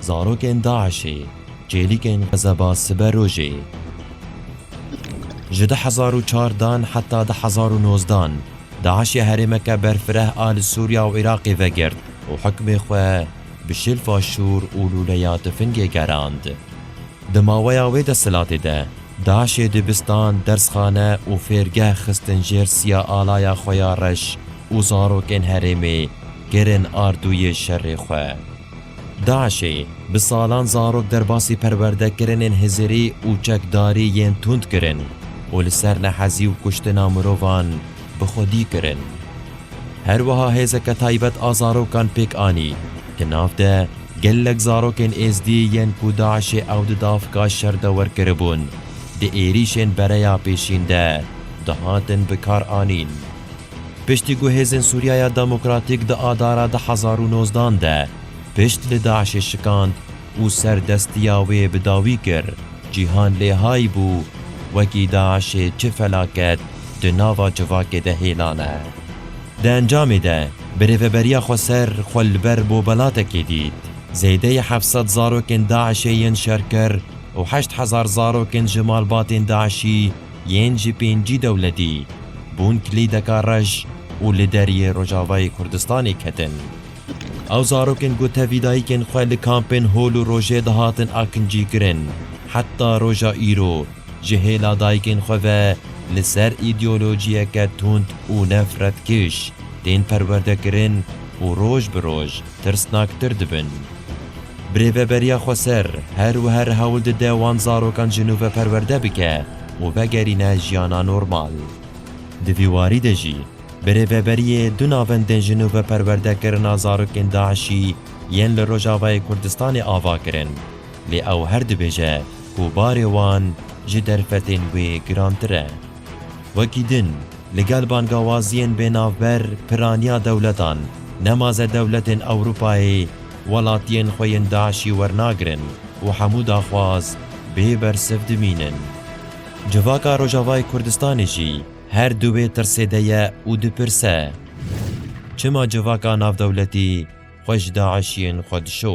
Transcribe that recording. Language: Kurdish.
Zarokên DAIŞ'ê çêlikên Xezeba sibe rojê Ji du hezar û çar dan heta du hezar û nozdan DAIŞ ya herêmeke berfireh a li Sûriya û Iraqê vegirt û hukmê xwe bi şilfa şûr û lûleya tifingê gerand. Di maweya wê desthilatê de, DAIŞ'ê dibistan, dersxane û fêrgeh xistin jêr siya alaya xwe ya reş û zarokên herêmê kirin ardûyê şerê xwe. DAIŞ'ê bi salan zarok derbasî perwerdekirinên hizirî û çekdarî yên tund kirin û li ser nehezî û kuştina mirovan bi xwedî kirin. Her wiha hêzeke taybet a zarokan pêk anî di nav de gelek zarokên Êzdî yên ku DAIŞ'ê ew di davka şer de werkiribûn, di êrîşên bereya pêşîn de dihatin bikaranîn. Piştî ku hêzên Sûriyaya Demokratîk di adara du hezar û nozdan de pişt li DAIŞ'ê şikand, û ser destiya wê bi dawî kir. Cîhan lê hay bû, wekî DAIŞ'ê çi felaket di nava civakê de hêlane. Di encamê de birêveberiya xweser xwe li ber bobelatekê dît. Zêdeyî heft sed zarokên DAIŞ'ê yên şer kir û heşt hezar zarokên ji malbatên DAIŞ'î yên ji pêncî dewletî bûn kilîdeka reş û li deriyê Rojavayê Kurdistanê ketin. Ew zarokên ku tevî dayikên xwe li kampên hol û rojê dihatin akincîkirin, heta roja îro ji hêla dayikên xwe ve li ser îdeolojiyeke tund û nefretkiş tên perwerdekirin û roj bi roj tirsnaktir dibin. Birêveberiya Xweser her wiha hewl dide wan zarokan ji nû ve perwerde bike û vegerîne jiyana normal. Di vî warî de jî Bi rêveberiyê du navendên ji nû bi perwerdekirina zarokên DAIŞ'î yên li Rojavayê Kurdistanê ava kirin. Lê ew her dibêje ku barê wan ji derfetên wê girantir e. Wekî din, li gel bangawaziyên bênavber piraniya dewletan, nemaze dewletên Ewropayê welatiyên xwe yên DAIŞ'î wernagirin û hemû daxwaz bê bersiv dimînin. Civaka Rojavayê Kurdistanê jî, Her du wê tirsê de ye û dipirse, Çima civaka navdewletî xwe ji DAIŞ'iyên xwe dişo?